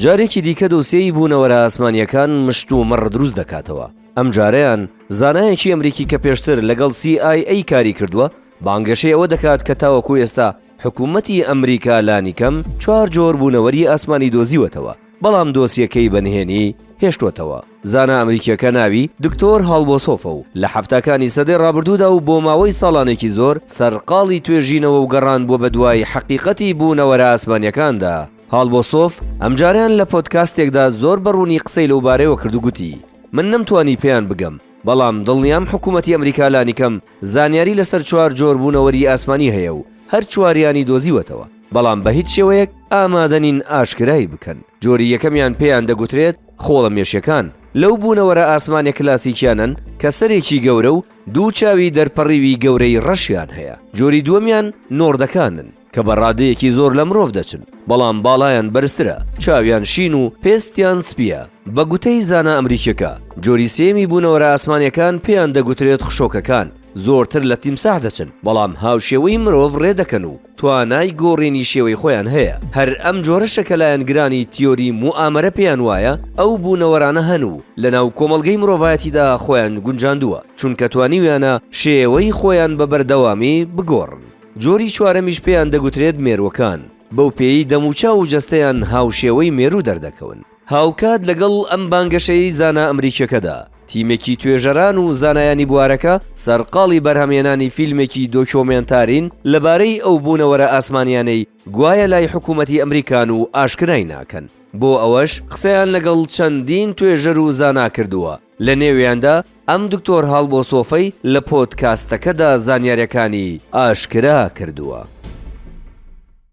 جارێکی دیکە دۆسێی بوونەوەرە ئاسمانییەکان مشت و مەڕ دروست دەکاتەوە، ئەم جارەیان زانایەکی ئەمریکی کە پێشتر لەگەڵ CIA کاری کردووە بانگەشەی ئەوە دەکات کە تاوەکو ئێستا حکوومەتی ئەمریکا لانیکەم چوار جۆر بوونەوەری ئاسمانی دۆزیوەتەوە، بەڵام دۆسیەکەی بە نهێنی هێشتووەتەوە. زانا ئەمریکییەکە ناوی، دکتۆر هالبۆسۆفە و لە حەفتاکانی سەدەی ڕابردوودا و بۆ ماوەی ساڵانێکی زۆر سەرقاڵی توێژینەوە و گەڕان بووە بەدوای حەقیقەتی بوونەوەرە ئاسمانییەکاندا. هالبۆسۆف ئەمجارەیان لە پۆدکاستێکدا زۆر بە ڕوونی قسەی لەوبارەیەوە کرد و گوتی، من نەمتوانی پێیان بگەم، بەڵام دڵنیام حکوومەتی ئەمریکا لانیکەم زانیاری لەسەر چوار جۆر بوونەوەری ئاسمانی هەیە و هەر چواریانی دۆزیوەتەوە، بەڵام بە هیچ شێوەیەک ئامادە نین ئاشکرای بکەن. جۆری یەکەمیان پێیان دەگوترێت خۆڵە مێشیەکان، لەو بوونەوەرە ئاسمانە کلاسیکیانەن کە سەرێکی گەورە و دوو چاوی دەرپەڕیوی گەورەی ڕەشیان هەیە. جۆری دووەمیان نۆردەکانن. کە بە ڕادەیەکی زۆر لە مرۆڤ دەچن، بەڵام باڵایان بەرزترە، چاویان شین و پێستیان سپییە. بە گوتەی زانا ئەمریکییەکە، جۆری سێیەمی بوونەوەرە ئاسمانییەکان پێیان دەگوترێت خشۆکەکان، زۆرتر لە تیمساح دەچن، بەڵام هاوشێوەی مرۆڤ ڕێ دەکەن و توانای گۆڕینی شێوەی خۆیان هەیە. هەر ئەم جۆرەشە کە لایەنگرانی تیۆری موئامەرە پێیان وایە ئەو بوونەوەرانە هەن و لەناو کۆمەڵگەی مرۆڤایەتیدا خۆیان گونجاندووە، چونکە توانیویانە شێوەی خۆیان بە بەردەوامی بگۆڕن. جۆری چوارەمیش پێیان دەگوترێت مێرووەکان، بەو پێیەی دەموچاو و جەستەیان هاوشێوەی مێروو دەردەکەون. هاوکات لەگەڵ ئەم بانگەشەیەی زانا ئەمریکییەکەدا، تیمێکی توێژەران و زانایانی بوارەکە سەرقاڵی بەرهەمهێنانی فیلمێکی دۆکیۆمێنتارین لەبارەی ئەو بوونەوەرە ئاسمانییانەی گوایە لای حکوومەتی ئەمریکان و ئاشکرای ناکەن، بۆ ئەوەش قسەیان لەگەڵ چەندین توێژەر و زانا کردووە، لە نێویاندا ئەم دکتۆر هاڵبۆسۆفەی لە پۆدکاستەکەدا زانیارییەکانی ئاشکرا کردووە.